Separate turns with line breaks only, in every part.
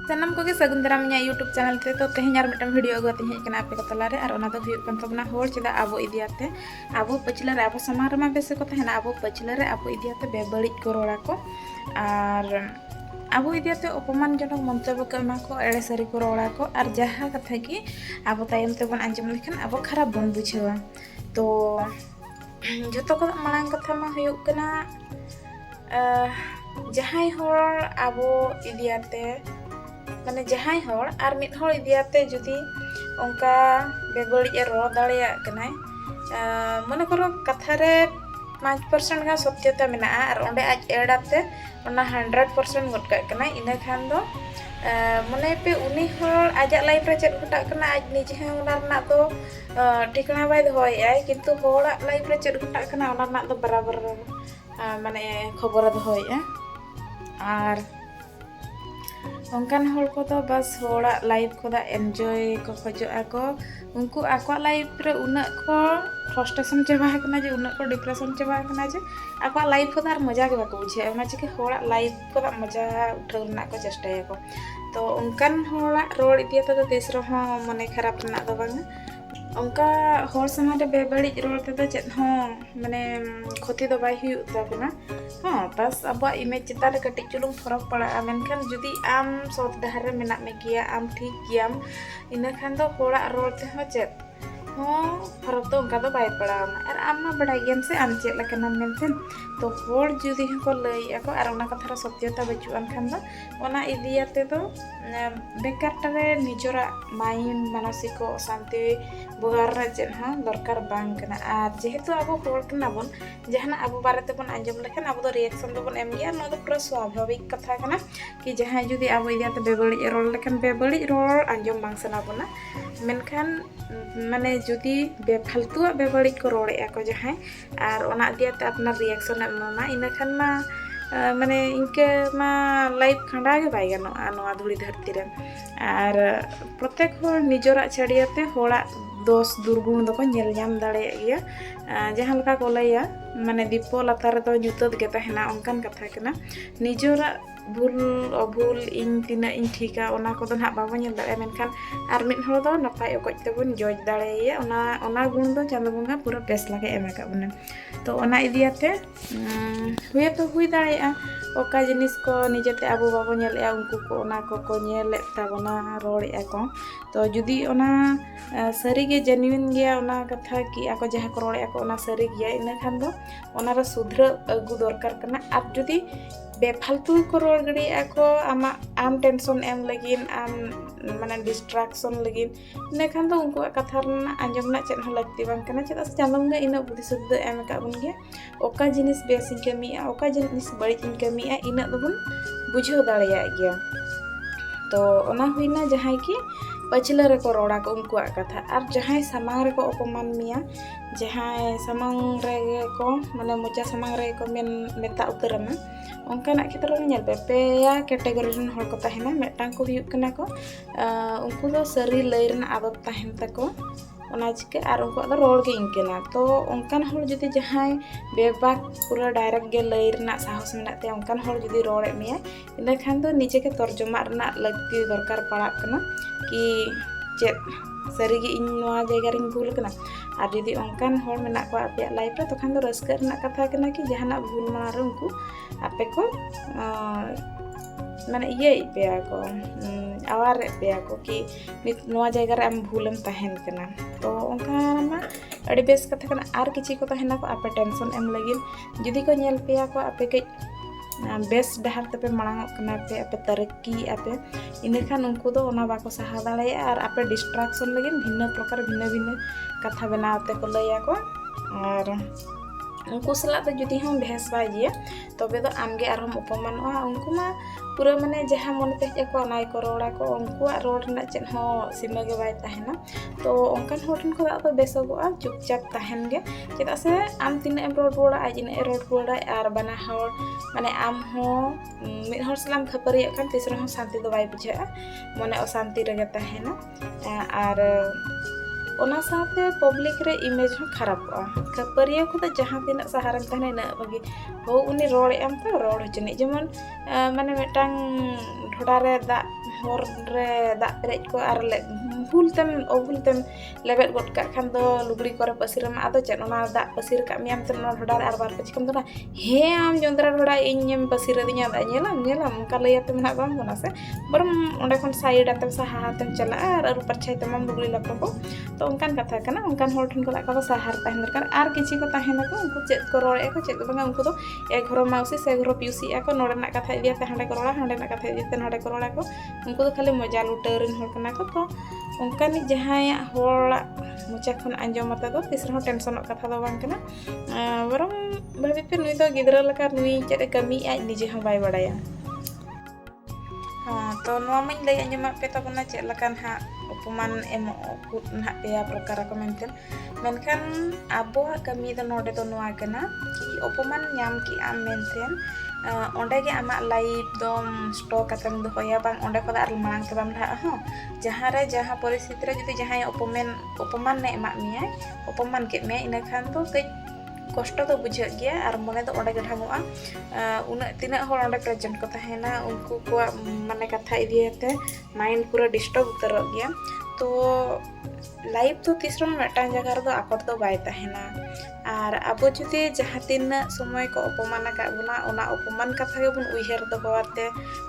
ᱥᱟᱱᱟᱢ ᱠᱚᱜᱮ ᱥᱟᱹᱜᱩᱱ ᱫᱟᱨᱟᱢ ᱤᱧᱟᱹᱜ ᱭᱩᱴᱩᱵᱽ ᱪᱮᱱᱮᱞ ᱛᱮ ᱛᱚ ᱛᱮᱦᱮᱧ ᱟᱨ ᱢᱤᱫᱴᱟᱝ ᱵᱷᱤᱰᱤᱭᱳ ᱟᱹᱜᱩ ᱠᱟᱛᱮᱧ ᱦᱮᱡ ᱟᱠᱟᱱᱟ ᱟᱯᱮ ᱠᱚ ᱛᱟᱞᱟ ᱨᱮ ᱟᱨ ᱚᱱᱟ ᱫᱚ ᱦᱩᱭᱩᱜ ᱠᱟᱱ ᱛᱟᱵᱚᱱᱟ ᱦᱚᱲ ᱪᱮᱫᱟᱜ ᱟᱵᱚ ᱤᱫᱤᱭᱟᱛᱮ ᱟᱵᱚ ᱯᱟᱹᱪᱷᱞᱟᱹ ᱨᱮ ᱟᱵᱚ ᱥᱟᱢᱟᱝ ᱨᱮᱢᱟ ᱵᱮᱥ ᱠᱚ ᱛᱟᱦᱮᱱᱟ ᱟᱵᱚ ᱯᱟᱹᱪᱷᱞᱟᱹ ᱨᱮ ᱟᱵᱚ ᱤᱫᱤᱭᱟᱛᱮ ᱵᱮᱵᱟᱹᱲᱤᱡ ᱠᱚ ᱨᱚᱲᱟ ᱠᱚ ᱟᱨ ᱟᱵᱚ ᱤᱫᱤᱭᱟᱛᱮ ᱚᱯᱚᱢᱟᱱ ᱡᱚᱱᱚᱠ ᱢᱚᱱᱛᱚᱵᱽᱵᱚ ᱠᱚ ᱮᱢᱟ ᱠᱚ ᱮᱲᱮ ᱥᱟᱹᱨᱤ ᱠᱚ ᱨᱚᱲᱟ ᱠᱚ ᱟᱨ ᱡᱟᱦᱟᱸ ᱠᱟᱛᱷᱟ ᱜᱮ ᱟᱵᱚ ᱛᱟᱭᱚᱢ ᱛᱮᱵᱚᱱ ᱟᱸᱡᱚᱢ ᱞᱮᱠᱷᱟᱱ ᱟᱵᱚ ᱠᱷᱟᱨᱟᱯ ᱵᱚᱱ ᱵᱩᱡᱷᱟᱹᱣᱟ ᱛᱚ ᱡᱚᱛᱚ ᱠᱷᱚᱱᱟᱜ ᱢᱟᱲᱟᱝ ᱠᱟᱛᱷᱟ ᱢᱟ ᱦᱩᱭᱩᱜ ᱠᱟᱱᱟ ᱡᱟᱦᱟᱸᱭ ᱦᱚᱲ ᱟᱵᱚ ᱤᱫᱤᱭᱟᱛᱮ ᱢᱟᱱᱮ ᱡᱟᱦᱟᱸᱭ ᱦᱚᱲ ᱟᱨ ᱢᱤᱫ ᱦᱚᱲ ᱤᱫᱤᱭᱟᱛᱮ ᱡᱩᱫᱤ ᱚᱱᱠᱟ ᱵᱮᱵᱟᱹᱲᱤᱡ ᱮ ᱨᱚᱲ ᱫᱟᱲᱮᱭᱟᱜ ᱠᱟᱱᱟᱭ ᱢᱚᱱᱮ ᱠᱚᱨᱚ ᱠᱟᱛᱷᱟ ᱨᱮ ᱯᱟᱸᱪ ᱯᱟᱨᱥᱮᱱᱴ ᱜᱟᱱ ᱥᱚᱛᱭᱚᱛᱟ ᱢᱮᱱᱟᱜᱼᱟ ᱟᱨ ᱚᱸᱰᱮ ᱟᱡ ᱮᱲᱟᱛᱮ ᱚᱱᱟ ᱦᱟᱱᱰᱨᱮᱰ ᱯᱟᱨᱥᱮᱱᱴ ᱜᱚᱫ ᱠᱟᱜ ᱠᱟᱱᱟᱭ ᱤᱱᱟᱹ ᱠᱷᱟᱱ ᱫᱚ ᱢᱚᱱᱮᱭ ᱯᱮ ᱩᱱᱤ ᱦᱚᱲ ᱟᱡᱟᱜ ᱞᱟᱭᱤᱯᱷ ᱨᱮ ᱪᱮᱫ ᱜᱷᱚᱴᱟᱜ ᱠᱟᱱᱟ ᱟᱡ ᱱᱤᱡᱮ ᱦᱚᱸ ᱚᱱᱟ ᱨᱮᱱᱟᱜ ᱫᱚ ᱴᱷᱤᱠᱟᱹᱱᱟ ᱵᱟᱭ ᱫᱚᱦᱚᱭᱮᱫᱼᱟᱭ ᱠᱤᱱᱛᱩ ᱦᱚᱲᱟᱜ ᱞᱟᱭᱤᱯᱷ ᱨᱮ ᱪᱮᱫ ᱜᱷᱚᱴᱟᱜ ᱠᱟᱱᱟ ᱚᱱᱟ ᱨᱮᱱᱟᱜ ᱫᱚ ᱵᱟᱨᱟᱵᱚᱨ ᱢᱟᱱᱮ ᱠᱷᱚᱵᱚᱨᱮ ᱫᱚᱦᱚᱭᱮᱫᱼᱟ ᱟᱨ ᱚᱱᱠᱟᱱ ᱦᱚᱲ ᱠᱚᱫᱚ ᱵᱟᱥ ᱦᱚᱲᱟᱜ ᱞᱟᱭᱤᱯᱷ ᱠᱚᱫᱚ ᱮᱱᱡᱚᱭ ᱠᱚ ᱠᱷᱚᱡᱚᱜᱼᱟ ᱠᱚ ᱩᱱᱠᱩ ᱟᱠᱚᱣᱟᱜ ᱞᱟᱭᱤᱯᱷ ᱨᱮ ᱩᱱᱟᱹᱜ ᱠᱚ ᱯᱷᱨᱚᱥᱴᱨᱮᱥᱚᱱ ᱪᱟᱵᱟ ᱟᱠᱟᱱᱟ ᱡᱮ ᱩᱱᱟᱹᱜ ᱠᱚ ᱰᱤᱯᱨᱮᱥᱚᱱ ᱪᱟᱵᱟ ᱟᱠᱟᱱᱟ ᱡᱮ ᱟᱠᱚᱣᱟᱜ ᱞᱟᱭᱤᱯᱷ ᱠᱚᱫᱚ ᱟᱨ ᱢᱚᱡᱟ ᱜᱮ ᱵᱟᱠᱚ ᱵᱩᱡᱷᱟᱹᱣᱮᱫᱼᱟ ᱚᱱᱟ ᱪᱤᱠᱟᱹ ᱦᱚᱲᱟᱜ ᱞᱟᱭᱤᱯᱷ ᱠᱚ ᱵᱟᱝ ᱢᱚᱡᱟ ᱩᱴᱷᱟᱹᱣ ᱨᱮᱱᱟᱜ ᱠᱚ ᱪᱮᱥᱴᱟᱭᱟᱠᱚ ᱛᱚ ᱚᱱᱠᱟᱱ ᱦᱚᱲᱟᱜ ᱨᱚᱲ ᱤᱫᱤ ᱠᱟᱛᱮᱫ ᱫᱚ ᱛᱤᱥ ᱨᱮᱦᱚᱸ ᱢᱚᱱᱮ ᱠᱷᱟᱨᱟᱯ ᱨᱮᱱᱟᱜ ᱫᱚ ᱵᱟᱝᱟ ᱚᱱᱠᱟ ᱦᱚᱲ ᱥᱟᱢᱟᱝ ᱨᱮ ᱵᱮᱵᱟᱹᱲᱤᱡ ᱨᱚᱲ ᱛᱮᱫᱚ ᱪᱮᱫ ᱦᱚᱸ ᱢᱟᱱᱮ ᱠᱷᱚᱛᱤ ᱫᱚ ᱵᱟᱭ ᱦᱩᱭᱩᱜ ᱛᱟᱵᱚᱱᱟ ᱦᱮᱸ ᱵᱟᱥ ᱟᱵᱚᱣᱟᱜ ᱤᱢᱮᱡᱽ ᱪᱮᱛᱟᱱ ᱨᱮ ᱠᱟᱹᱴᱤᱡ ᱪᱩᱞᱩᱝ ᱯᱷᱚᱨᱚᱠ ᱯᱟᱲᱟᱜᱼᱟ ᱢᱮᱱᱠᱷᱟᱱ ᱡᱩᱫᱤ ᱟᱢ ᱥᱚᱛ ᱰᱟᱦᱟᱨ ᱨᱮ ᱢᱮᱱᱟᱜ ᱢᱮᱜᱮᱭᱟ ᱟᱢ ᱴᱷᱤᱠ ᱜᱮᱭᱟᱢ ᱤᱱᱟᱹᱠᱷᱟᱱ ᱫᱚ ᱦᱚᱲᱟᱜ ᱨᱚᱲ ᱛᱮᱦᱚᱸ ᱪᱮᱫ ᱦᱚᱸ ᱯᱷᱟᱨᱟᱠ ᱫᱚ ᱚᱱᱠᱟ ᱫᱚ ᱵᱟᱭ ᱯᱟᱲᱟᱣᱟᱢᱟ ᱟᱨ ᱟᱢ ᱢᱟ ᱵᱟᱰᱟᱭ ᱜᱮᱭᱟᱢ ᱥᱮ ᱟᱢ ᱪᱮᱫ ᱞᱮᱠᱟᱱᱟᱢ ᱢᱮᱱᱛᱮ ᱛᱚ ᱦᱚᱲ ᱡᱩᱫᱤ ᱦᱚᱸᱠᱚ ᱞᱟᱹᱭᱮᱜᱼᱟ ᱠᱚ ᱟᱨ ᱚᱱᱟ ᱠᱟᱛᱷᱟ ᱨᱮ ᱥᱚᱛᱭᱚᱛᱟ ᱵᱟᱹᱪᱩᱜ ᱟᱱ ᱠᱷᱟᱱ ᱫᱚ ᱚᱱᱟ ᱤᱫᱤᱭᱟᱛᱮ ᱫᱚ ᱵᱮᱠᱟᱨᱴᱟ ᱨᱮ ᱱᱤᱡᱚᱨᱟᱜ ᱢᱟᱭᱤᱱᱰ ᱢᱟᱱᱚᱥᱤᱠᱚ ᱚᱥᱟᱱᱛᱤ ᱵᱚᱜᱟᱨ ᱨᱮ ᱪᱮᱫ ᱦᱚᱸ ᱫᱚᱨᱠᱟᱨ ᱵᱟᱝ ᱠᱟᱱᱟ ᱟᱨ ᱡᱮᱦᱮᱛᱩ ᱟᱵᱚ ᱦᱚᱲ ᱠᱟᱱᱟ ᱵᱚᱱ ᱡᱟᱦᱟᱱᱟᱜ ᱟᱵᱚ ᱵᱟᱨᱮ ᱛᱮᱵᱚᱱ ᱟᱸᱡᱚᱢ ᱞᱮᱠᱷᱟᱱ ᱟᱵᱚ ᱫᱚ ᱨᱤᱭᱮᱠᱥᱚᱱ ᱫᱚᱵᱚᱱ ᱮᱢ ᱜᱮᱭᱟ ᱱᱚᱣᱟ ᱫᱚ ᱯᱩᱨᱟᱹ ᱥᱣᱟᱵᱷᱟᱵᱤᱠ ᱠᱟᱛᱷᱟ ᱠᱟᱱᱟ ᱠᱤ ᱡᱟᱦᱟᱸᱭ ᱡᱩᱫᱤ ᱟᱵᱚ ᱤᱫᱤᱭᱟᱛᱮ ᱵᱮᱵᱟᱹᱲᱤᱡ ᱮ ᱨᱚᱲ ᱞᱮᱠᱷᱟᱱ ᱵᱮᱵᱟᱹᱲᱤᱡ ᱨᱚᱲ ᱟᱸᱡᱚᱢ ᱵᱟᱝ ᱥᱟᱱᱟ ᱵᱚᱱᱟ ᱢᱮᱱᱠᱷᱟᱱ ᱢᱟᱱᱮ ᱡᱩᱫᱤ ᱯᱷᱟᱞᱛᱩᱣᱟᱜ ᱵᱮᱵᱟᱹᱲᱤᱡ ᱠᱚ ᱨᱚᱲᱮᱫᱼᱟ ᱠᱚ ᱡᱟᱦᱟᱸᱭ ᱟᱨ ᱚᱱᱟ ᱤᱫᱤᱭᱟᱛᱮ ᱟᱯᱱᱟᱨ ᱨᱤᱭᱮᱠᱥᱚᱱ ᱮᱢ ᱮᱢᱟᱢᱟ ᱤᱱᱟᱹ ᱠᱷᱟᱱ ᱢᱟ ᱢᱟᱱᱮ ᱤᱱᱠᱟᱹ ᱢᱟ ᱞᱟᱭᱤᱯᱷ ᱠᱷᱟᱸᱰᱟᱣ ᱜᱮ ᱵᱟᱭ ᱜᱟᱱᱚᱜᱼᱟ ᱱᱚᱣᱟ ᱫᱷᱩᱲᱤ ᱫᱷᱟᱹᱨᱛᱤ ᱨᱮ ᱟᱨ ᱯᱨᱚᱛᱮᱠ ᱦᱚᱲ ᱱᱤᱡᱚᱨᱟᱜ ᱪᱷᱟᱹᱲᱭᱟᱹᱛᱮ ᱦᱚᱲᱟᱜ ᱫᱳᱥ ᱫᱩᱨᱜᱩᱱ ᱫᱚᱠᱚ ᱧᱮᱞ ᱧᱟᱢ ᱫᱟᱲᱮᱭᱟᱜ ᱜᱮᱭᱟ ᱡᱟᱦᱟᱸ ᱞᱮᱠᱟ ᱠᱚ ᱞᱟᱹᱭᱟ ᱢᱟᱱᱮ ᱫᱤᱯᱚ ᱞᱟᱛᱟᱨ ᱨᱮᱫᱚ ᱧᱩᱛᱟᱹᱛ ᱜᱮ ᱛᱟᱦᱮᱱᱟ ᱚᱱᱠᱟᱱ ᱠᱟᱛᱷᱟ ᱠᱟᱱᱟ ᱱᱤᱡᱚᱨᱟᱜ ᱵᱷᱩᱞ ᱚᱵᱷᱩᱞ ᱤᱧ ᱛᱤᱱᱟᱹᱜ ᱤᱧ ᱴᱷᱤᱠᱟ ᱚᱱᱟ ᱠᱚᱫᱚ ᱱᱟᱦᱟᱜ ᱵᱟᱵᱚᱱ ᱧᱮᱞ ᱫᱟᱲᱮᱭᱟᱜᱼᱟ ᱢᱮᱱᱠᱷᱟᱱ ᱟᱨ ᱢᱤᱫ ᱦᱚᱲ ᱫᱚ ᱱᱟᱯᱟᱭ ᱚᱠᱚᱡ ᱛᱮᱵᱚᱱ ᱡᱚᱡᱽ ᱫᱟᱲᱮᱭᱟᱭᱟ ᱚᱱᱟ ᱚᱱᱟ ᱜᱩᱱ ᱫᱚ ᱪᱟᱸᱫᱳ ᱵᱚᱸᱜᱟ ᱯᱩᱨᱟᱹ ᱵᱮᱥ ᱞᱟᱜᱮ ᱮᱢ ᱟᱠᱟᱫ ᱵᱚᱱᱟ ᱛᱚ ᱚᱱᱟ ᱤᱫᱤᱭᱟᱛᱮ ᱦᱩᱭᱛᱚ ᱦᱩᱭ ᱫᱟᱲᱮᱭᱟᱜᱼᱟ ᱚᱠᱟ ᱡᱤᱱᱤᱥ ᱠᱚ ᱱᱤᱡᱮᱛᱮ ᱟᱵᱚ ᱵᱟᱵᱚ ᱧᱮᱞᱮᱜᱼᱟ ᱩᱱᱠᱩ ᱠᱚ ᱚᱱᱟ ᱠᱚᱠᱚ ᱧᱮᱞᱮᱫ ᱛᱟᱵᱚᱱᱟ ᱨᱚᱲᱮᱜᱼᱟ ᱠᱚ ᱛᱚ ᱡᱩᱫᱤ ᱚᱱᱟ ᱥᱟᱹᱨᱤᱜᱮ ᱡᱮᱱᱩᱭᱤᱱ ᱜᱮᱭᱟ ᱚᱱᱟ ᱠᱟᱛᱷᱟ ᱠᱤ ᱟᱠᱚ ᱡᱟᱦᱟᱸ ᱠᱚ ᱨᱚᱲᱮᱜᱼᱟ ᱠᱚ ᱚᱱᱟ ᱥᱟᱹᱨᱤ ᱜᱮᱭᱟ ᱤᱱᱟᱹ ᱠᱷᱟᱱ ᱫᱚ ᱚᱱᱟᱨᱮ ᱥᱩᱫᱷᱨᱟᱹᱜ ᱟᱹᱜᱩ ᱫᱚᱨᱠᱟᱨ ᱠᱟᱱᱟ ᱟᱨ ᱡᱩᱫᱤ ᱵᱮᱯᱷᱟᱞᱛᱩ ᱠᱚ ᱨᱚᱲ ᱜᱤᱰᱤᱭᱮᱫᱼᱟ ᱠᱚ ᱟᱢᱟᱜ ᱟᱢ ᱴᱮᱱᱥᱚᱱ ᱮᱢ ᱞᱟᱹᱜᱤᱫ ᱟᱢ ᱢᱟᱱᱮ ᱰᱤᱥᱴᱨᱟᱠᱥᱚᱱ ᱞᱟᱹᱜᱤᱫ ᱤᱱᱟᱹᱠᱷᱟᱱ ᱫᱚ ᱩᱱᱠᱩᱣᱟᱜ ᱠᱟᱛᱷᱟ ᱨᱮᱱᱟᱜ ᱟᱸᱡᱚᱢ ᱨᱮᱱᱟᱜ ᱪᱮᱫ ᱦᱚᱸ ᱞᱟᱹᱠᱛᱤ ᱵᱟᱝ ᱠᱟᱱᱟ ᱪᱮᱫᱟᱜ ᱥᱮ ᱪᱟᱸᱫᱳ ᱵᱚᱸᱜᱟ ᱤᱱᱟᱹᱜ ᱵᱩᱫᱷᱤ ᱥᱩᱫᱷ ᱫᱚ ᱮᱢ ᱟᱠᱟᱫ ᱵᱚᱱ ᱜᱮᱭᱟ ᱚᱠᱟ ᱡᱤᱱᱤᱥ ᱵᱮᱥ ᱤᱧ ᱠᱟᱹᱢᱤᱭᱮᱫᱼᱟ ᱚᱠᱟ ᱡᱤᱱᱤᱥ ᱵᱟᱹᱲᱤᱡ ᱤᱧ ᱠᱟᱹᱢᱤᱭᱮᱫᱼᱟ ᱤᱱᱟᱹᱜ ᱫᱚᱵᱚᱱ ᱵᱩᱡᱷᱟᱹᱣ ᱫᱟᱲᱮᱭᱟᱜ ᱜᱮᱭᱟ ᱛᱚ ᱚᱱᱟ ᱦᱩᱭᱱᱟ ᱡᱟᱦᱟᱸᱭ ᱠᱤ ᱯᱟᱹᱪᱷᱞᱟᱹ ᱨᱮᱠᱚ ᱨᱚᱲᱟ ᱠᱚ ᱩᱱᱠᱩᱣᱟᱜ ᱠᱟᱛᱷᱟ ᱟᱨ ᱡᱟᱦᱟᱸᱭ ᱥᱟᱢᱟᱝ ᱨᱮᱠᱚ ᱚᱯᱚᱢᱟᱱ ᱢᱮᱭᱟ ᱡᱟᱦᱟᱸᱭ ᱥᱟᱢᱟᱝ ᱨᱮᱜᱮ ᱠᱚ ᱢᱟᱱᱮ ᱢᱚᱪᱟ ᱥᱟᱢᱟᱝ ᱨᱮᱜᱮ ᱠᱚ ᱢᱮᱱ ᱢᱮᱛᱟ ᱩᱛᱟᱹᱨᱟᱢᱟ ᱚᱱᱠᱟᱱᱟᱜ ᱠᱷᱮᱛᱨᱚ ᱨᱮ ᱧᱮᱞ ᱯᱮ ᱯᱮᱭᱟ ᱠᱮᱴᱮᱜᱚᱨᱤ ᱨᱮᱱ ᱦᱚᱲ ᱠᱚ ᱛᱟᱦᱮᱱᱟ ᱢᱤᱫᱴᱟᱝ ᱠᱚ ᱦᱩᱭᱩᱜ ᱠᱟᱱᱟ ᱠᱚ ᱩᱱᱠᱩ ᱫᱚ ᱥᱟᱹᱨᱤ ᱞᱟᱹᱭ ᱨᱮᱱᱟᱜ ᱟᱫᱚᱛ ᱛᱟᱦᱮᱱ ᱛᱟᱠᱚ ᱚᱱᱟ ᱪᱤᱠᱟᱹ ᱟᱨ ᱩᱱᱠᱩᱣᱟᱜ ᱫᱚ ᱨᱚᱲ ᱜᱮ ᱤᱱᱠᱟᱹᱱᱟ ᱛᱚ ᱚᱱᱠᱟᱱ ᱦᱚᱲ ᱡᱩᱫᱤ ᱡᱟᱦᱟᱸᱭ ᱵᱮᱵᱟᱠ ᱯᱩᱨᱟᱹ ᱰᱟᱭᱨᱮᱠᱴ ᱜᱮ ᱞᱟᱹᱭ ᱨᱮᱱᱟᱜ ᱥᱟᱦᱚᱥ ᱢᱮᱱᱟᱜ ᱛᱟᱭᱟ ᱚᱱᱠᱟᱱ ᱦᱚᱲ ᱡᱩᱫᱤ ᱨᱚᱲᱮᱫ ᱢᱮᱭᱟᱭ ᱤᱱᱟᱹ ᱠᱷᱟᱱ ᱫᱚ ᱱᱤᱡᱮ ᱜᱮ ᱛᱚᱨᱡᱚᱢᱟᱜ ᱨᱮᱱᱟᱜ ᱞᱟᱹᱠᱛᱤ ᱫᱚᱨᱠᱟᱨ ᱯᱟᱲᱟᱜ ᱠᱟᱱᱟ ᱠᱤ ᱪᱮᱫ ᱥᱟᱹᱨᱤᱜᱮ ᱤᱧ ᱱᱚᱣᱟ ᱡᱟᱭᱜᱟ ᱨᱤᱧ ᱵᱷᱩᱞ ᱠᱟᱱᱟ ᱟᱨ ᱡᱩᱫᱤ ᱚᱱᱠᱟᱱ ᱦᱚᱲ ᱢᱮᱱᱟᱜ ᱠᱚᱣᱟ ᱟᱯᱮᱭᱟᱜ ᱞᱟᱭᱤᱯᱷ ᱨᱮ ᱛᱚᱠᱷᱟᱱ ᱫᱚ ᱨᱟᱹᱥᱠᱟᱹ ᱨᱮᱱᱟᱜ ᱠᱟᱛᱷᱟ ᱠᱟᱱᱟ ᱠᱤ ᱡᱟᱦᱟᱱᱟᱜ ᱵᱷᱩᱞ ᱢᱟᱱᱟ ᱨᱮ ᱩᱱᱠᱩ ᱟᱯᱮ ᱠᱚ ᱢᱟᱱᱮ ᱤᱭᱟᱹᱭᱮᱫ ᱯᱮᱭᱟ ᱠᱚ ᱟᱣᱟᱨᱮᱫ ᱯᱮᱭᱟ ᱠᱚ ᱠᱤ ᱱᱤᱛ ᱱᱚᱣᱟ ᱡᱟᱭᱜᱟ ᱨᱮ ᱟᱢ ᱵᱷᱩᱞᱮᱢ ᱛᱟᱦᱮᱱ ᱠᱟᱱᱟ ᱛᱚ ᱚᱱᱠᱟ ᱢᱟ ᱟᱹᱰᱤ ᱵᱮᱥ ᱠᱟᱛᱷᱟ ᱠᱟᱱᱟ ᱟᱨ ᱠᱤᱪᱷᱩ ᱠᱚ ᱛᱟᱦᱮᱱᱟ ᱠᱚ ᱟᱯᱮ ᱴᱮᱱᱥᱚᱱ ᱮᱢ ᱞᱟᱹᱜᱤᱫ ᱡᱩᱫᱤ ᱠᱚ ᱧᱮᱞ ᱯᱮᱭᱟ ᱠᱚ ᱟᱯᱮ ᱠᱟᱹᱡ ᱵᱮᱥ ᱰᱟᱦᱟᱨ ᱛᱮᱯᱮ ᱢᱟᱲᱟᱝᱚᱜ ᱠᱟᱱᱟ ᱯᱮ ᱟᱯᱮ ᱛᱟᱨᱟᱠᱤ ᱟᱯᱮ ᱤᱱᱟᱹᱠᱷᱟᱱ ᱩᱱᱠᱩ ᱫᱚ ᱚᱱᱟ ᱵᱟᱠᱚ ᱥᱟᱦᱟ ᱫᱟᱲᱮᱭᱟᱜᱼᱟ ᱟᱨ ᱟᱯᱮ ᱰᱤᱥᱴᱨᱟᱠᱥᱚᱱ ᱞᱟᱹᱜᱤᱫ ᱵᱷᱤᱱᱟᱹ ᱯᱨᱚᱠᱟᱨ ᱵᱷᱤᱱᱟᱹ ᱵᱷᱤᱱᱟᱹ ᱠᱟᱛᱷᱟ ᱵᱮᱱᱟᱣ ᱛᱮᱠᱚ ᱞᱟᱹᱭᱟᱠᱚ ᱟᱨ ᱩᱱᱠᱩ ᱥᱟᱞᱟᱜ ᱫᱚ ᱡᱩᱫᱤ ᱦᱚᱸ ᱵᱮᱦᱮᱥ ᱵᱟᱭ ᱜᱮᱭᱟ ᱛᱚᱵᱮ ᱫᱚ ᱟᱢᱜᱮ ᱟᱨᱦᱚᱢ ᱚᱯᱚᱢᱟᱱᱚᱜᱼᱟ ᱩᱱᱠᱩ ᱢᱟ ᱯᱩᱨᱟᱹ ᱢᱟᱱᱮ ᱡᱟᱦᱟᱸ ᱢᱚᱱᱮᱛᱮ ᱦᱮᱡ ᱟᱠᱚ ᱚᱱᱟ ᱜᱮᱠᱚ ᱨᱚᱲᱟᱠᱚ ᱩᱱᱠᱩᱣᱟᱜ ᱨᱚᱲ ᱨᱮᱱᱟᱜ ᱪᱮᱫ ᱦᱚᱸ ᱥᱤᱢᱟᱹ ᱜᱮ ᱵᱟᱭ ᱛᱟᱦᱮᱱᱟ ᱛᱚ ᱚᱱᱠᱟᱱ ᱦᱚᱲ ᱴᱷᱮᱱ ᱠᱷᱚᱱ ᱫᱚ ᱟᱫᱚ ᱵᱮᱥᱚᱜᱚᱜᱼᱟ ᱪᱩᱯᱪᱟᱯ ᱛᱟᱦᱮᱱ ᱜᱮ ᱪᱮᱫᱟᱜ ᱥᱮ ᱟᱢ ᱛᱤᱱᱟᱹᱜ ᱮᱢ ᱨᱚᱲ ᱨᱩᱣᱟᱹᱲᱟ ᱟᱡ ᱤᱱᱟᱹᱜ ᱮ ᱨᱚᱲ ᱨᱩᱣᱟᱹᱲᱟᱭ ᱟᱨ ᱵᱟᱱᱟ ᱦᱚᱲ ᱢᱟᱱᱮ ᱟᱢ ᱦᱚᱸ ᱢᱤᱫ ᱦᱚᱲ ᱥᱟᱞᱟᱜ ᱮᱢ ᱠᱷᱟᱹᱯᱟᱹᱨᱤᱭᱟᱹᱜ ᱠᱷᱟᱱ ᱛᱤᱥ ᱨᱮᱦᱚᱸ ᱥᱟᱱᱛᱤ ᱫᱚ ᱵᱟᱭ ᱵᱩᱡᱷᱟᱹᱜᱼᱟ ᱢᱚᱱᱮ ᱚᱥᱟᱱᱛᱤ ᱨᱮᱜᱮ ᱛᱟᱦᱮᱱᱟ ᱟᱨ ᱚᱱᱟ ᱥᱟᱶᱛᱮ ᱯᱟᱵᱽᱞᱤᱠ ᱨᱮ ᱤᱢᱮᱡᱽ ᱦᱚᱸ ᱠᱷᱟᱨᱟᱯᱚᱜᱼᱟ ᱠᱷᱟᱹᱯᱟᱹᱨᱤᱭᱟᱹ ᱠᱚᱫᱚ ᱡᱟᱦᱟᱸ ᱛᱤᱱᱟᱹᱜ ᱥᱟᱦᱟᱨᱮᱢ ᱛᱟᱦᱮᱱᱟ ᱤᱱᱟᱹᱜ ᱵᱷᱟᱹᱜᱤ ᱦᱳ ᱩᱱᱤ ᱨᱚᱲᱮᱫ ᱟᱢ ᱛᱚ ᱨᱚᱲ ᱦᱚᱪᱚᱱᱤᱡ ᱡᱮᱢᱚᱱ ᱢᱟᱱᱮ ᱢᱤᱫᱴᱟᱝ ᱰᱷᱚᱰᱟ ᱨᱮ ᱫᱟᱜ ᱦᱚᱨ ᱨᱮ ᱫᱟᱜ ᱯᱮᱨᱮᱡ ᱠᱚᱜᱼᱟ ᱟᱨ ᱵᱷᱩᱞ ᱛᱮᱢ ᱚᱵᱷᱩᱞ ᱛᱮᱢ ᱞᱮᱵᱮᱫ ᱜᱚᱫ ᱠᱟᱜ ᱠᱷᱟᱱ ᱫᱚ ᱞᱩᱜᱽᱲᱤ ᱠᱚᱨᱮ ᱯᱟᱹᱥᱤᱨ ᱟᱢᱟ ᱟᱫᱚ ᱪᱮᱫ ᱚᱱᱟ ᱫᱟᱜ ᱯᱟᱹᱥᱤᱨ ᱠᱟᱜ ᱢᱮᱭᱟᱢ ᱛᱮ ᱚᱱᱟ ᱰᱷᱚᱰᱟ ᱨᱮ ᱟᱨ ᱵᱟᱨ ᱯᱟᱹᱪᱤ ᱠᱚᱢ ᱫᱚᱱᱟ ᱦᱮᱸ ᱟᱢ ᱡᱚᱸᱫᱽᱨᱟ ᱰᱷᱚᱰᱟ ᱤᱧᱮᱢ ᱯᱟᱹᱥᱤᱨ ᱟᱹᱫᱤᱧᱟ ᱫᱟᱜ ᱧᱮᱞᱟᱢ ᱧᱮᱞᱟᱢ ᱚᱱᱠᱟ ᱞᱟᱹᱭ ᱟᱛᱮᱢ ᱱᱟᱦᱟᱜ ᱵᱟᱢ ᱫᱚᱱᱟ ᱥᱮ ᱵᱚᱨᱚᱢ ᱚᱸᱰᱮ ᱠᱷᱚᱱ ᱥᱟᱭᱤᱰ ᱟᱛᱮᱢ ᱥᱟᱦᱟ ᱟᱛᱮᱢ ᱪᱟᱞᱟᱜᱼᱟ ᱟᱨ ᱟᱹᱨᱩ ᱯᱟᱨᱪᱷᱟᱭ ᱛᱟᱢᱟᱢ ᱞᱩᱜᱽᱲᱤ ᱞᱟᱯᱚ ᱠᱚ ᱛᱚ ᱚᱱᱠᱟᱱ ᱠᱟᱛᱷᱟ ᱠᱟᱱᱟ ᱚᱱᱠᱟᱱ ᱦᱚᱲ ᱴᱷᱮᱱ ᱠᱷᱚᱱᱟᱜ ᱠᱚ ᱥᱟᱦᱟᱨ ᱛᱟᱦᱮᱱ ᱫᱚᱨᱠᱟᱨ ᱟᱨ ᱠᱤᱪᱷᱩ ᱠᱚ ᱛᱟᱦᱮᱱᱟᱠᱚ ᱩᱱᱠᱩ ᱪᱮᱫ ᱠᱚ ᱨᱚᱲᱮᱫᱼᱟ ᱠᱚ ᱪᱮᱫ ᱫᱚ ᱵᱟᱝᱟ ᱩᱱᱠᱩ ᱫᱚ ᱮ ᱜᱷᱚᱨᱚ ᱢᱟᱹᱣᱥᱤ ᱥᱮ ᱜᱷᱚᱨᱚ ᱯᱤᱭᱩᱥᱤᱜᱼᱟ ᱠᱚ ᱱᱚᱰᱮᱱᱟᱜ ᱠᱟᱛᱷᱟ ᱤᱫᱤᱭᱟᱛᱮ ᱦᱟᱸᱰᱮ ᱠᱚ ᱨᱚᱲᱟ ᱦᱟᱸᱰᱮᱱᱟᱜ ᱠᱟᱛᱷᱟ ᱤᱫᱤᱭᱟᱛᱮ ᱱᱚᱰᱮ ᱠᱚ ᱨᱚᱲᱟ ᱠᱚ ᱩᱱᱠᱩ ᱫᱚ ᱠᱷᱟᱹᱞᱤ ᱢᱚᱡᱟ ᱞᱩᱴᱟᱹᱣ ᱨᱮᱱ ᱦᱚᱲ ᱠᱟᱱᱟ ᱠᱚ ᱛᱚ ᱚᱱᱠᱟᱱᱤᱡ ᱡᱟᱦᱟᱸᱭᱟᱜ ᱦᱚᱲᱟᱜ ᱢᱚᱪᱟ ᱠᱷᱚᱱ ᱟᱸᱡᱚᱢ ᱟᱛᱮ ᱫᱚ ᱛᱤᱥ ᱨᱮᱦᱚᱸ ᱴᱮᱱᱥᱚᱱᱚᱜ ᱠᱟᱛᱷᱟ ᱫᱚ ᱵᱟᱝ ᱠᱟᱱᱟ ᱵᱚᱨᱚᱝ ᱵᱷᱟᱹᱵᱤ ᱯᱮ ᱱᱩᱭ ᱫᱚ ᱜᱤᱫᱽᱨᱟᱹ ᱞᱮᱠᱟ ᱱᱩᱭ ᱪᱮᱫ ᱮ ᱠᱟᱹᱢᱤᱭᱮᱫᱼᱟ ᱟᱡ ᱱᱤᱡᱮ ᱦᱚᱸ ᱵᱟᱭ ᱵᱟᱲᱟᱭᱟ ᱛᱚ ᱱᱚᱣᱟ ᱢᱟᱹᱧ ᱞᱟᱹᱭ ᱟᱸᱡᱚᱢᱟᱫ ᱯᱮ ᱛᱟᱵᱚᱱᱟ ᱪᱮᱫ ᱞᱮᱠᱟ ᱱᱟᱦᱟᱜ ᱚᱯᱚᱢᱟᱱ ᱮᱢᱚᱜ ᱠᱚ ᱱᱟᱦᱟᱜ ᱯᱮᱭᱟ ᱯᱨᱚᱠᱟᱨ ᱟᱠᱚ ᱢᱮᱱᱛᱮ ᱢᱮᱱᱠᱷᱟᱱ ᱟᱵᱚᱣᱟᱜ ᱠᱟᱹᱢᱤ ᱫᱚ ᱱᱚᱰᱮ ᱫᱚ ᱱᱚᱣᱟ ᱠᱟᱱᱟ ᱠᱤ ᱚᱯᱚᱢᱟᱱ ᱧᱟᱢ ᱠᱮᱜ ᱟᱢ ᱢᱮᱱᱛᱮ ᱚᱸᱰᱮ ᱜᱮ ᱟᱢᱟᱜ ᱞᱟᱭᱤᱯᱷ ᱫᱚᱢ ᱥᱴᱚᱠ ᱠᱟᱛᱮᱢ ᱫᱚᱦᱚᱭᱟ ᱵᱟᱝ ᱚᱸᱰᱮ ᱠᱷᱚᱱ ᱟᱨ ᱢᱟᱲᱟᱝ ᱛᱮ ᱵᱟᱢ ᱞᱟᱦᱟᱜᱼᱟ ᱦᱚᱸ ᱡᱟᱦᱟᱸ ᱨᱮ ᱡᱟᱦᱟᱸ ᱯᱚᱨᱤᱥᱛᱷᱤᱛᱤ ᱨᱮ ᱡᱩᱫᱤ ᱡᱟᱦᱟᱸᱭ ᱚᱯᱚᱢᱟᱱ ᱚᱯᱚᱢᱟᱱ ᱮ ᱮᱢᱟᱜ ᱢᱮᱭᱟ ᱚᱯᱚᱢᱟᱱ ᱠᱮᱫ ᱢᱮᱭᱟ ᱤᱱᱟᱹ ᱠᱷᱟᱱ ᱫᱚ ᱠᱟᱹᱡ ᱠᱚᱥᱴᱚ ᱫᱚ ᱵᱩᱡᱷᱟᱹᱜ ᱜᱮᱭᱟ ᱟᱨ ᱢᱚᱱᱮ ᱫᱚ ᱚᱸᱰᱮ ᱜᱮ ᱰᱷᱟᱝᱚᱜᱼᱟ ᱩᱱᱟᱹᱜ ᱛᱤᱱᱟᱹᱜ ᱦᱚᱲ ᱚᱸᱰᱮ ᱯᱨᱮᱡᱮᱱᱴ ᱠᱚ ᱛᱟᱦᱮᱱᱟ ᱩᱱᱠᱩ ᱠᱚᱣᱟᱜ ᱢᱟᱱᱮ ᱠᱟᱛᱷᱟ ᱤᱫᱤᱭᱟᱛᱮ ᱢᱟᱭᱤᱱᱰ ᱯᱩᱨᱟᱹ ᱰᱤᱥᱴᱟᱨᱵ ᱩᱛᱟᱹᱨᱚᱜ ᱜᱮᱭᱟ ᱛᱚ ᱞᱟᱭᱤᱯᱷ ᱫᱚ ᱛᱤᱥ ᱨᱮᱦᱚᱸ ᱢᱤᱫᱴᱟᱝ ᱡᱟᱭᱜᱟ ᱨᱮᱫᱚ ᱟᱠᱚᱴ ᱫᱚ ᱵᱟᱭ ᱛᱟᱦᱮᱱᱟ ᱟᱨ ᱟᱵᱚ ᱡᱩᱫᱤ ᱡᱟᱦᱟᱸ ᱛᱤᱱᱟᱹᱜ ᱥᱚᱢᱚᱭ ᱠᱚ ᱚᱯᱚᱢᱟᱱ ᱟᱠᱟᱫ ᱵᱚᱱᱟ ᱚᱱᱟ ᱚᱯᱚᱢᱟᱱ ᱠᱟᱛᱷᱟ ᱜᱮᱵᱚᱱ ᱩᱭᱦᱟᱹᱨ ᱫᱚᱦᱚᱣᱟ ᱛᱮ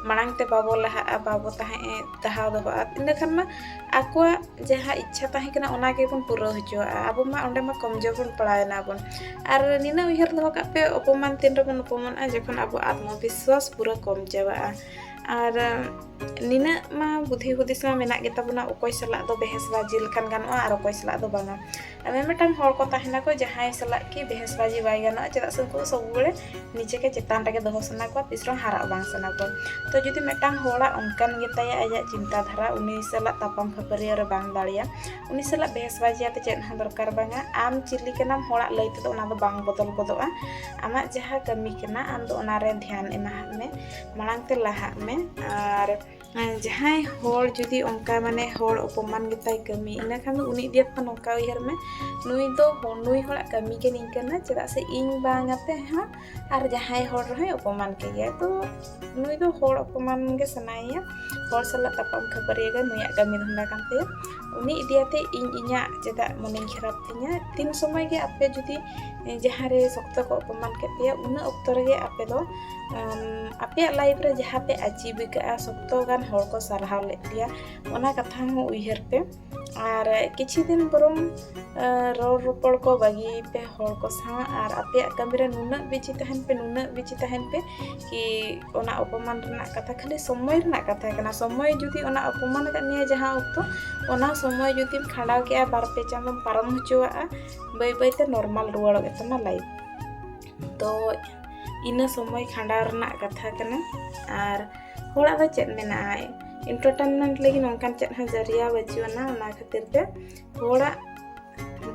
ᱢᱟᱲᱟᱝ ᱛᱮ ᱵᱟᱵᱚ ᱞᱟᱦᱟᱜᱼᱟ ᱵᱟᱵᱚ ᱛᱟᱦᱮᱸ ᱫᱟᱦᱟᱣ ᱫᱚᱦᱚᱜᱼᱟ ᱤᱱᱟᱹ ᱠᱷᱟᱱ ᱢᱟ ᱟᱠᱚᱣᱟᱜ ᱡᱟᱦᱟᱸ ᱤᱪᱪᱷᱟ ᱛᱟᱦᱮᱸ ᱠᱟᱱᱟ ᱚᱱᱟ ᱜᱮᱵᱚᱱ ᱯᱩᱨᱟᱹᱣ ᱦᱚᱪᱚᱣᱟᱜᱼᱟ ᱟᱵᱚ ᱢᱟ ᱚᱸᱰᱮ ᱢᱟ ᱠᱚᱢᱡᱳᱨ ᱵᱚᱱ ᱯᱟᱲᱟᱣ ᱮᱱᱟ ᱵᱚᱱ ᱟᱨ ᱱᱤᱱᱟᱹᱜ ᱩᱭᱦᱟᱹᱨ ᱫᱚᱦᱚ ᱠᱟᱜ ᱯᱮ ᱚᱯᱚᱢᱟᱱ ᱛᱤᱱ ᱨᱮᱵᱚᱱ ᱚᱯᱚᱢᱟᱱᱚᱜᱼᱟ ᱡᱚᱠᱷᱚᱱ ᱟᱵᱚ ᱟᱛᱢᱚ ᱵᱤᱥᱥᱟᱥ ᱯᱩᱨᱟᱹ ᱠᱚᱢ ᱪᱟᱵᱟᱜᱼᱟ ᱟᱨ ᱱᱤᱱᱟᱹᱜ ᱢᱟ ᱵᱩᱫᱷᱤ ᱦᱩᱫᱤᱥ ᱢᱟ ᱢᱮᱱᱟᱜ ᱜᱮ ᱛᱟᱵᱚᱱᱟ ᱚᱠᱚᱭ ᱥᱟᱞᱟᱜ ᱫᱚ ᱵᱮᱦᱮᱥ ᱵᱟᱡᱤ ᱞᱮᱠᱷᱟᱱ ᱜᱟᱱᱚᱜᱼᱟ ᱟᱨ ᱚᱠᱚᱭ ᱥᱟᱞᱟᱜ ᱫᱚ ᱵᱟᱝᱟ ᱟᱭᱢᱟ ᱢᱤᱫᱴᱟᱝ ᱦᱚᱲ ᱠᱚ ᱛᱟᱦᱮᱱᱟ ᱠᱚ ᱡᱟᱦᱟᱸᱭ ᱥᱟᱞᱟᱜ ᱠᱤ ᱵᱮᱦᱮᱥ ᱵᱟᱡᱤ ᱵᱟᱭ ᱜᱟᱱᱚᱜᱼᱟ ᱪᱮᱫᱟᱜ ᱥᱮ ᱩᱱᱠᱩ ᱫᱚ ᱥᱚᱵ ᱵᱮᱲᱮ ᱱᱤᱡᱮ ᱜᱮ ᱪᱮᱛᱟᱱ ᱨᱮᱜᱮ ᱫᱚᱦᱚ ᱥᱟᱱᱟ ᱠᱚᱣᱟ ᱛᱤᱥ ᱨᱮᱦᱚᱸ ᱦᱟᱨᱟᱜ ᱵᱟᱝ ᱥᱟᱱᱟ ᱠᱚᱣᱟ ᱛᱚ ᱡᱩᱫᱤ ᱢᱤᱫᱴᱟᱝ ᱦᱚᱲᱟᱜ ᱚᱱᱠᱟᱱ ᱜᱮᱛᱟᱭᱟ ᱟᱭᱟᱜ ᱪᱤᱱᱛᱟ ᱫᱷᱟᱨᱟ ᱩᱱᱤ ᱥᱟᱞᱟᱜ ᱛᱟᱯᱟᱢ ᱠᱷᱟᱹᱯᱟᱹᱨᱤᱭᱟᱹ ᱨᱮ ᱵᱟᱝ ᱫᱟᱲᱮᱭᱟ ᱩᱱᱤ ᱥᱟᱞᱟᱜ ᱵᱮᱦᱮᱥ ᱵᱟᱡᱤ ᱟᱛᱮ ᱪᱮᱫ ᱦᱚᱸ ᱫᱚᱨᱠᱟᱨ ᱵᱟᱝᱟ ᱟᱢ ᱪᱤᱞᱤ ᱠᱟᱱᱟᱢ ᱦᱚᱲᱟᱜ ᱞᱟᱹᱭ ᱛᱮᱫᱚ ᱚᱱᱟ ᱫᱚ ᱵᱟᱝ ᱵᱚᱫᱚᱞ ᱜᱚᱫᱚᱜᱼᱟ ᱟᱢᱟᱜ ᱡᱟᱦᱟᱸ ᱠᱟᱹᱢᱤ ᱠᱟᱱᱟ ᱟᱢ ᱫᱚ ᱚᱱᱟᱨᱮ ᱫᱷᱮᱭᱟᱱ ᱮᱢᱟᱦᱟᱜ ᱢᱮ ᱢᱟᱲᱟᱝ ᱛᱮ ᱞᱟᱦᱟᱜ ᱢᱮ ᱟᱨ ᱡᱟᱦᱟᱸᱭ ᱦᱚᱲ ᱡᱩᱫᱤ ᱚᱱᱠᱟ ᱢᱟᱱᱮ ᱦᱚᱲ ᱚᱯᱚᱢᱟᱱ ᱜᱮᱛᱟᱭ ᱠᱟᱹᱢᱤ ᱤᱱᱟᱹ ᱠᱷᱟᱱ ᱫᱚ ᱩᱱᱤ ᱤᱫᱤ ᱠᱟᱛᱮᱫ ᱱᱚᱝᱠᱟ ᱩᱭᱦᱟᱹᱨ ᱢᱮ ᱱᱩᱭ ᱫᱚ ᱱᱩᱭ ᱦᱚᱲᱟᱜ ᱠᱟᱹᱢᱤ ᱜᱮ ᱱᱤᱝᱠᱟᱹᱱᱟ ᱪᱮᱫᱟᱜ ᱥᱮ ᱤᱧ ᱵᱟᱝ ᱟᱛᱮ ᱦᱚᱸ ᱟᱨ ᱡᱟᱦᱟᱸᱭ ᱦᱚᱲ ᱨᱮᱦᱚᱸᱭ ᱚᱯᱚᱢᱟᱱ ᱠᱮᱜᱮᱭᱟ ᱛᱚ ᱱᱩᱭ ᱫᱚ ᱦᱚᱲ ᱚᱯᱚᱢᱟᱱ ᱜᱮ ᱥᱟᱱᱟᱭᱮᱭᱟ ᱦᱚᱲ ᱥᱟᱞᱟᱜ ᱛᱟᱯᱟᱢ ᱠᱷᱟᱹᱯᱟᱹᱨᱤᱭᱟᱹ ᱜᱮ ᱱᱩᱭᱟᱜ ᱠᱟᱹᱢᱤ ᱫᱷᱟᱱᱫᱟ ᱠᱟᱱ ᱛᱟᱭᱟ ᱩᱱᱤ ᱤᱫᱤ ᱠᱟᱛᱮᱫ ᱤᱧ ᱤᱧᱟᱹᱜ ᱪᱮᱫᱟᱜ ᱢᱚᱱᱮᱧ ᱠᱷᱟᱨᱟᱯ ᱛᱤᱧᱟ ᱛᱤᱱ ᱥᱚᱢᱚᱭ ᱜᱮ ᱟᱯᱮ ᱡᱩᱫᱤ ᱡᱟᱦᱟᱸ ᱨᱮ ᱥᱚᱠᱛᱚ ᱠᱚ ᱚᱯᱚᱢᱟᱱ ᱠᱮᱫ ᱯᱮᱭᱟ ᱩᱱᱟᱹᱜ ᱚᱠᱛᱚ ᱨᱮᱜᱮ ᱟᱯᱮ ᱫᱚ ᱟᱯᱮᱭᱟᱜ ᱞᱟᱭᱤᱯᱷ ᱨᱮ ᱡᱟᱦᱟᱸ ᱯᱮ ᱟᱪᱤᱵᱽ ᱟᱠᱟᱫᱼᱟ ᱥᱚᱠᱛᱚ ᱜᱟᱱ ᱦᱚᱲ ᱠᱚ ᱥᱟᱨᱦᱟᱣ ᱞᱮᱫ ᱯᱮᱭᱟ ᱚᱱᱟ ᱠᱟᱛᱷᱟ ᱦᱚᱸ ᱩᱭᱦᱟᱹᱨ ᱯᱮ ᱟᱨ ᱠᱤᱪᱷᱩ ᱫᱤᱱ ᱵᱚᱨᱚᱝ ᱨᱚᱲ ᱨᱚᱯᱚᱲ ᱠᱚ ᱵᱟᱹᱜᱤᱭ ᱯᱮ ᱦᱚᱲ ᱠᱚ ᱥᱟᱶ ᱟᱨ ᱟᱯᱮᱭᱟᱜ ᱠᱟᱹᱢᱤ ᱨᱮ ᱱᱩᱱᱟᱹᱜ ᱵᱤᱡᱤ ᱛᱟᱦᱮᱱ ᱯᱮ ᱱᱩᱱᱟᱹᱜ ᱵᱤᱡᱤ ᱛᱟᱦᱮᱱ ᱯᱮ ᱠᱤ ᱚᱱᱟ ᱚᱯᱚᱢᱟᱱ ᱨᱮᱱᱟᱜ ᱠᱟᱛᱷᱟ ᱠᱷᱟᱹᱞᱤ ᱥᱚᱢᱚᱭ ᱨᱮᱱᱟᱜ ᱠᱟᱛᱷᱟ ᱠᱟᱱᱟ ᱥᱚᱢᱚᱭ ᱡᱩᱫᱤ ᱚᱱᱟ ᱚᱯᱚᱢᱟᱱ ᱟᱠᱟᱫ ᱢᱮᱭᱟ ᱡᱟᱦᱟᱸ ᱚᱠᱛᱚ ᱚᱱᱟ ᱥᱚᱢᱚᱭ ᱡᱩᱫᱤᱢ ᱠᱷᱟᱸᱰᱟᱣ ᱠᱮᱜᱼᱟ ᱵᱟᱨ ᱯᱮ ᱪᱟᱸᱫᱚᱢ ᱯᱟᱨᱚᱢ ᱦᱚᱪᱚᱣᱟᱜᱼᱟ ᱵᱟᱹᱭ ᱵᱟᱹᱭᱛᱮ ᱱᱚᱨᱢᱟᱞ ᱨᱩᱣᱟᱹᱲᱚᱜ ᱜᱮᱛᱟᱢᱟ ᱞᱟᱭᱤᱯᱷ ᱛᱚ ᱤᱱᱟᱹ ᱥᱚᱢᱚᱭ ᱠᱷᱟᱸᱰᱟᱣ ᱨᱮᱱᱟᱜ ᱠᱟᱛᱷᱟ ᱠᱟᱱᱟ ᱟᱨ ᱦᱚᱲᱟᱜ ᱫᱚ ᱪᱮᱫ ᱢᱮᱱᱟᱜᱼᱟ ᱮᱱᱴᱟᱨᱴᱮᱱᱢᱮᱱᱴ ᱞᱟᱹᱜᱤᱫ ᱱᱚᱝᱠᱟᱱ ᱪᱮᱫ ᱦᱚᱸ ᱡᱟᱹᱨᱤᱭᱟ ᱵᱟᱹᱪᱩᱜ ᱟᱱᱟ ᱚᱱᱟ ᱠᱷᱟᱹᱛᱤᱨ ᱛᱮ ᱦᱚᱲᱟᱜ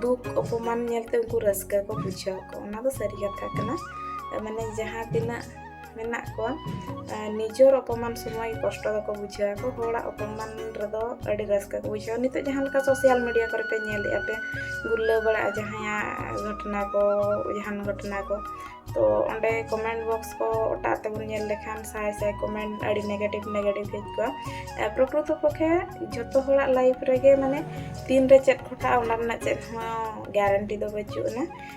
ᱫᱩᱠ ᱚᱯᱚᱢᱟᱱ ᱧᱮᱞᱛᱮ ᱩᱱᱠᱩ ᱨᱟᱹᱥᱠᱟᱹ ᱠᱚ ᱵᱩᱡᱷᱟᱹᱣ ᱟᱠᱚ ᱚᱱᱟ ᱫᱚ ᱥᱟᱹᱨᱤ ᱠᱟᱛᱷᱟ ᱠᱟᱱᱟ ᱢᱟᱱᱮ ᱡᱟᱦᱟᱸ ᱛᱤᱱᱟᱹᱜ ᱢᱮᱱᱟᱜ ᱠᱚᱣᱟ ᱱᱤᱡᱚᱨ ᱚᱯᱚᱢᱟᱱ ᱥᱚᱢᱚᱭ ᱠᱚᱥᱴᱚ ᱫᱚᱠᱚ ᱵᱩᱡᱷᱟᱹᱣ ᱟᱠᱚ ᱦᱚᱲᱟᱜ ᱚᱯᱚᱢᱟᱱ ᱨᱮᱫᱚ ᱟᱹᱰᱤ ᱨᱟᱹᱥᱠᱟᱹ ᱠᱚ ᱵᱩᱡᱷᱟᱹᱣᱟ ᱱᱤᱛᱚᱜ ᱡᱟᱦᱟᱸ ᱞᱮᱠᱟ ᱥᱳᱥᱟᱞ ᱢᱤᱰᱤᱭᱟ ᱠᱚᱨᱮ ᱯᱮ ᱧᱮᱞᱮᱜᱼᱟ ᱯᱮ ᱜᱩᱨᱞᱟᱹ ᱵᱟᱲᱟᱜᱼᱟ ᱡᱟᱦᱟᱸᱭᱟᱜ ᱜᱷᱚᱴᱚᱱᱟ ᱠᱚ ᱡᱟᱦᱟᱱ ᱜᱷᱚᱴᱚᱱᱟ ᱠᱚ ᱛᱚ ᱚᱸᱰᱮ ᱠᱚᱢᱮᱱᱴ ᱵᱚᱠᱥ ᱠᱚ ᱚᱴᱟᱜ ᱛᱮᱵᱚᱱ ᱧᱮᱞ ᱞᱮᱠᱷᱟᱱ ᱥᱟᱭ ᱥᱟᱭ ᱠᱚᱢᱮᱱᱴ ᱟᱹᱰᱤ ᱱᱮᱜᱮᱴᱤᱵᱽ ᱱᱮᱜᱮᱴᱤᱵᱽ ᱦᱮᱡ ᱠᱚᱜᱼᱟ ᱯᱨᱚᱠᱨᱤᱛᱚ ᱯᱚᱠᱷᱮ ᱡᱷᱚᱛᱚ ᱦᱚᱲᱟᱜ ᱞᱟᱭᱤᱯᱷ ᱨᱮᱜᱮ ᱢᱟᱱᱮ ᱛᱤᱱᱨᱮ ᱪᱮᱫ ᱜᱷᱚᱴᱟᱜᱼᱟ ᱚᱱᱟ ᱨᱮᱱᱟᱜ ᱪᱮᱫ ᱦᱚᱸ ᱜᱮᱨᱮᱱᱴᱤ ᱫᱚ ᱵᱟᱹᱪᱩᱜ ᱟᱱᱟ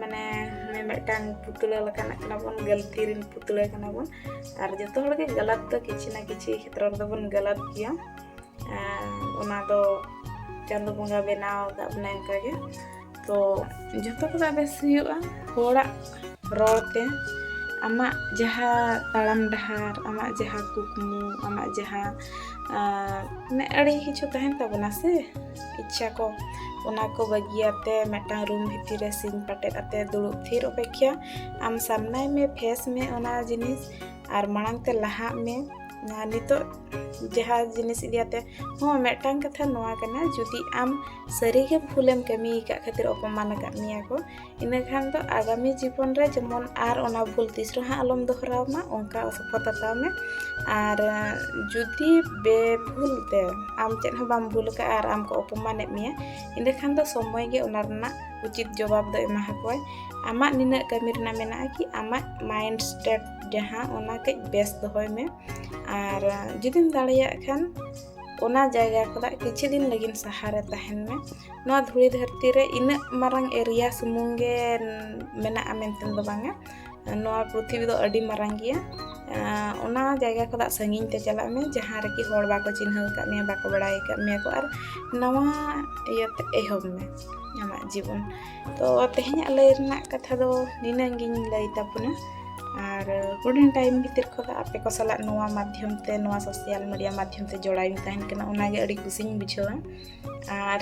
ᱢᱟᱱᱮ ᱦᱟᱱᱮ ᱢᱤᱫᱴᱟᱝ ᱯᱩᱛᱲᱟᱹ ᱞᱮᱠᱟᱱᱟᱜ ᱠᱟᱱᱟ ᱵᱚᱱ ᱜᱟᱹᱞᱛᱤ ᱨᱮᱱ ᱯᱩᱛᱲᱟᱹ ᱠᱟᱱᱟ ᱵᱚᱱ ᱟᱨ ᱡᱚᱛᱚ ᱦᱚᱲ ᱜᱮ ᱜᱟᱞᱟᱛ ᱫᱚ ᱠᱤᱪᱷᱤ ᱱᱟ ᱠᱤᱪᱷᱤ ᱠᱷᱮᱛᱨᱚ ᱨᱮᱫᱚ ᱵᱚᱱ ᱜᱟᱞᱟᱛ ᱜᱮᱭᱟ ᱚᱱᱟ ᱫᱚ ᱪᱟᱸᱫᱚ ᱵᱚᱸᱜᱟ ᱵᱮᱱᱟᱣ ᱟᱠᱟᱫ ᱵᱚᱱᱟ ᱚᱱᱠᱟ ᱜᱮ ᱛᱚ ᱡᱚᱛᱚ ᱠᱚᱫᱚ ᱵᱮᱥ ᱦᱩᱭᱩᱜᱼᱟ ᱦᱚᱲᱟᱜ ᱨᱚᱲ ᱛᱮ ᱟᱢᱟᱜ ᱡᱟᱦᱟᱸ ᱛᱟᱲᱟᱢ ᱰᱟᱦᱟᱨ ᱟᱢᱟᱜ ᱡᱟᱦᱟᱸ ᱠᱩᱠᱢᱩ ᱟᱢᱟᱜ ᱡᱟᱦᱟᱸ ᱢᱟᱱᱮ ᱟᱹᱰᱤ ᱠᱤᱪᱷᱩ ᱛᱟᱦᱮᱱ ᱛᱟᱵᱚᱱᱟ ᱥᱮ ᱤᱪᱪᱷᱟ ᱠᱚ ᱚᱱᱟ ᱠᱚ ᱵᱟᱹᱜᱤᱭᱟᱛᱮ ᱢᱤᱫᱴᱟᱝ ᱨᱩᱢ ᱵᱷᱤᱛᱤᱨ ᱨᱮ ᱥᱤᱧ ᱯᱟᱴᱮᱫ ᱟᱛᱮ ᱫᱩᱲᱩᱵ ᱛᱷᱤᱨ ᱚᱯᱮᱠᱷᱟ ᱟᱢ ᱥᱟᱢᱱᱟᱭ ᱢᱮ ᱯᱷᱮᱥ ᱢᱮ ᱚᱱᱟ ᱡᱤᱱᱤᱥ ᱟᱨ ᱢᱟᱲᱟᱝ ᱛᱮ ᱞᱟᱦᱟᱜ ᱢᱮ ᱱᱤᱛᱚᱜ ᱡᱟᱦᱟᱸ ᱡᱤᱱᱤᱥ ᱤᱫᱤᱭᱟᱛᱮ ᱦᱚᱸ ᱢᱤᱫᱴᱟᱝ ᱠᱟᱛᱷᱟ ᱱᱚᱣᱟ ᱠᱟᱱᱟ ᱡᱩᱫᱤ ᱟᱢ ᱥᱟᱹᱨᱤᱜᱮ ᱵᱷᱩᱞᱮᱢ ᱠᱟᱹᱢᱤ ᱟᱠᱟᱫ ᱠᱷᱟᱹᱛᱤᱨ ᱚᱯᱚᱢᱟᱱ ᱟᱠᱟᱫ ᱢᱮᱭᱟ ᱠᱚ ᱤᱱᱟᱹ ᱠᱷᱟᱱ ᱫᱚ ᱟᱜᱟᱢᱤ ᱡᱤᱵᱚᱱ ᱨᱮ ᱡᱮᱢᱚᱱ ᱟᱨ ᱚᱱᱟ ᱵᱷᱩᱞ ᱛᱤᱥ ᱨᱮᱦᱚᱸ ᱟᱞᱚᱢ ᱫᱚᱦᱚᱨᱟᱣ ᱢᱟ ᱚᱱᱠᱟ ᱥᱚᱯᱚᱛ ᱦᱟᱛᱟᱣ ᱢᱮ ᱟᱨ ᱡᱩᱫᱤ ᱵᱮ ᱵᱷᱩᱞ ᱛᱮ ᱟᱢ ᱪᱮᱫ ᱦᱚᱸ ᱵᱟᱢ ᱵᱷᱩᱞ ᱟᱠᱟᱫᱼᱟ ᱟᱨ ᱟᱢ ᱠᱚ ᱚᱯᱚᱢᱟᱱᱮᱫ ᱢᱮᱭᱟ ᱤᱱᱟᱹ ᱠᱷᱟᱱ ᱫᱚ ᱥᱚᱢᱚᱭ ᱜᱮ ᱚᱱᱟ ᱨᱮᱱᱟᱜ ᱩᱪᱤᱛ ᱡᱚᱵᱟᱵ ᱫᱚ ᱮᱢᱟ ᱦᱟᱠᱚᱣᱟᱭ ᱟᱢᱟᱜ ᱱᱤᱱᱟᱹᱜ ᱠᱟᱹᱢᱤ ᱨᱮᱱᱟᱜ ᱢᱮᱱᱟᱜᱼᱟ ᱠᱤ ᱟᱢᱟᱜ ᱢᱟᱭᱤᱱᱰ ᱥᱴᱮᱴ ᱡᱟᱦᱟᱸ ᱚᱱᱟ ᱠᱟᱹᱡ ᱵᱮᱥ ᱫᱚᱦᱚᱭ ᱢᱮ ᱟᱨ ᱡᱩᱫᱤᱢ ᱫᱟᱲᱮᱭᱟᱜ ᱠᱷᱟᱱ ᱚᱱᱟ ᱡᱟᱭᱜᱟ ᱠᱷᱚᱱᱟᱜ ᱠᱤᱪᱷᱩ ᱫᱤᱱ ᱞᱟᱹᱜᱤᱫ ᱥᱟᱦᱟᱨᱮ ᱛᱟᱦᱮᱱ ᱢᱮ ᱱᱚᱣᱟ ᱫᱷᱩᱲᱤ ᱫᱷᱟᱹᱨᱛᱤ ᱨᱮ ᱤᱱᱟᱹᱜ ᱢᱟᱨᱟᱝ ᱮᱨᱤᱭᱟ ᱥᱩᱢᱩᱝ ᱜᱮ ᱢᱮᱱᱟᱜᱼᱟ ᱢᱮᱱᱛᱮ ᱫᱚ ᱵᱟᱝᱟ ᱱᱚᱣᱟ ᱯᱨᱤᱛᱷᱤᱵᱤ ᱫᱚ ᱟᱹᱰᱤ ᱢᱟᱨᱟᱝ ᱜᱮᱭᱟ ᱚᱱᱟ ᱡᱟᱭᱜᱟ ᱠᱷᱚᱱᱟᱜ ᱥᱟᱺᱜᱤᱧ ᱛᱮ ᱪᱟᱞᱟᱜ ᱢᱮ ᱡᱟᱦᱟᱸ ᱨᱮᱠᱤ ᱦᱚᱲ ᱵᱟᱠᱚ ᱪᱤᱱᱦᱟᱹᱣ ᱟᱠᱟᱫ ᱢᱮᱭᱟ ᱵᱟᱠᱚ ᱵᱟᱲᱟᱭ ᱟᱠᱟᱫ ᱢᱮᱭᱟ ᱠᱚ ᱟᱨ ᱱᱟᱣᱟ ᱤᱭᱟᱹᱛᱮ ᱮᱦᱚᱵ ᱢᱮ ᱟᱢᱟᱜ ᱡᱤᱵᱚᱱ ᱛᱚ ᱛᱮᱦᱮᱧᱟᱜ ᱞᱟᱹᱭ ᱨᱮᱱᱟᱜ ᱠᱟᱛᱷᱟ ᱫᱚ ᱱᱤᱱᱟᱹᱝ ᱜᱤᱧ ᱞᱟᱹᱭ ᱛᱟᱵᱚᱱᱟ ᱟᱨ ᱦᱩᱰᱤᱧ ᱴᱟᱭᱤᱢ ᱵᱷᱤᱛᱤᱨ ᱠᱷᱚᱱ ᱟᱯᱮ ᱠᱚ ᱥᱟᱞᱟᱜ ᱱᱚᱣᱟ ᱢᱟᱫᱽᱫᱷᱚᱢ ᱛᱮ ᱱᱚᱣᱟ ᱥᱳᱥᱟᱞ ᱢᱤᱰᱤᱭᱟ ᱢᱟᱫᱽᱫᱷᱚᱢ ᱛᱮ ᱡᱚᱲᱟᱣᱤᱧ ᱛᱟᱦᱮᱱ ᱠᱟᱱᱟ ᱚᱱᱟᱜᱮ ᱟᱹᱰᱤ ᱠᱩᱥᱤᱧ ᱵᱩᱡᱷᱟᱹᱣᱟ ᱟᱨ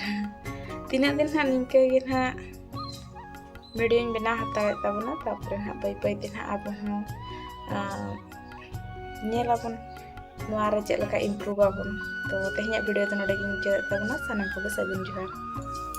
ᱛᱤᱱᱟᱹᱜ ᱫᱤᱱ ᱦᱟᱸᱜ ᱱᱤᱝᱠᱟᱹ ᱜᱮ ᱦᱟᱸᱜ ᱵᱷᱤᱰᱤᱭᱳᱧ ᱵᱮᱱᱟᱣ ᱦᱟᱛᱟᱲᱮᱫ ᱛᱟᱵᱚᱱᱟ ᱛᱟᱨᱯᱚᱨᱮ ᱦᱟᱸᱜ ᱵᱟᱹᱭ ᱵᱟᱹᱭ ᱛᱮ ᱦᱟᱸᱜ ᱟᱵᱚ ᱦᱚᱸ ᱧᱮᱞ ᱟᱵᱚᱱ ᱱᱚᱣᱟ ᱨᱮ ᱪᱮᱫ ᱞᱮᱠᱟ ᱤᱢᱯᱨᱩᱵᱷ ᱟᱵᱚᱱ ᱛᱚ ᱛᱮᱦᱮᱧᱟᱜ ᱵᱷᱤᱰᱤᱭᱳ ᱫᱚ ᱱᱚᱰᱮ ᱜᱮᱧ ᱢᱩᱪᱟᱹᱫᱮᱫ ᱛᱟᱵᱚᱱᱟ ᱥᱟᱱᱟᱢ ᱠᱚᱜᱮ ᱥᱟᱹᱜᱩᱱ ᱡᱚᱦᱟᱨ